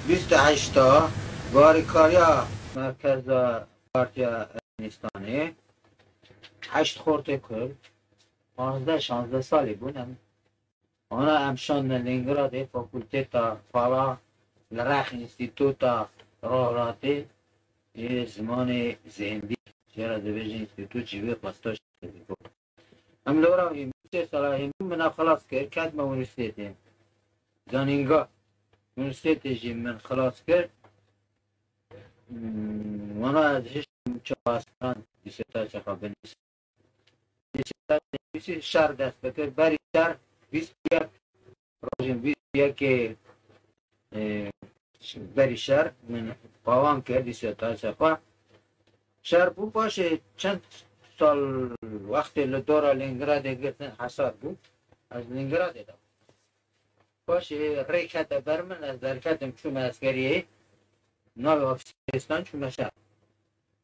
Bîst û heşt a barîkariya merkeza Partiya Ermenistanê, heşt xortê Kurd, panzdeh şanzdeh salî bûn em wana em şandine Lêningradê Fakulteta Pala li rex Înstîtuta Rojhilatê yê Zimanê Zêndî jê re dibêjin Înstîtût jî wê xwesta şandî bû. Em li Iraqê bûn, sê sala hê min min a xilas kir, ketime unîvrsîtetê. Zanînga unîvrsîtetê jî min xilas kir. Wana ez hiştim çawa esran dîsertasyaya xwe binivîsim. Dîsertasyaya nivîsî şer dest bikir, berî şer bîst yek Rojên vî yekê berî şer pawan kir dî seta sepa. Şer bû paşê çend sal wextê li dora Lêngradê girtin hesar bû. Ez Lêngradê de. Paşê rê kete ber min ez derketim çûme eskeriyê. Navê ofîstan çûme şer.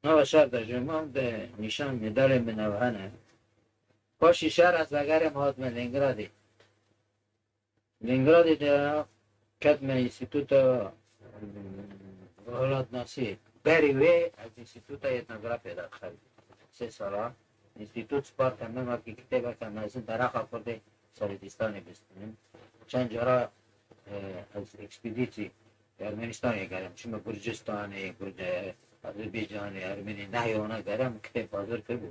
Nava şer de jêman de nîşan medalê min ev hene. Paşê şer ez vegerîm hatime Lêngradê. Lêngradê de ketime Înstîtuta Welatnasiyê. Berî wê ez Înstîtuta Etnografyê de dixebîm. Sê sala Înstîtut sparta min wekî kitêbeke mezin dereqa kurdê serê dîstanê bistînim. Çend cara ez ekspedîtî Ermenistanê gerim. Çima Gurcistanê, Azerbaycanê, Ermenî nehya wana gerim kitêb hazir kiribû.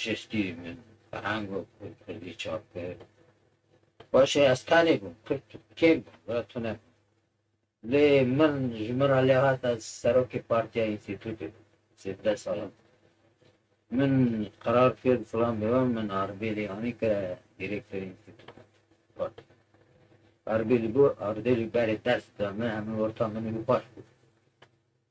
Şêstî min ferhang û kurdî çap kir. Baş e ez tenê bûm, kurd kêm bûn, were tune bûn. Lê min ji min re lêhat ez serokê partiya înstîtûtê bûm sêzdeh salan. Min qerar kir filan bêvan min Ardêlî anî kire dîrêktorê înstîtûtê. Got Ardêlî bo, Ardêlî berê ders da min, hemû orta min û xweş bû.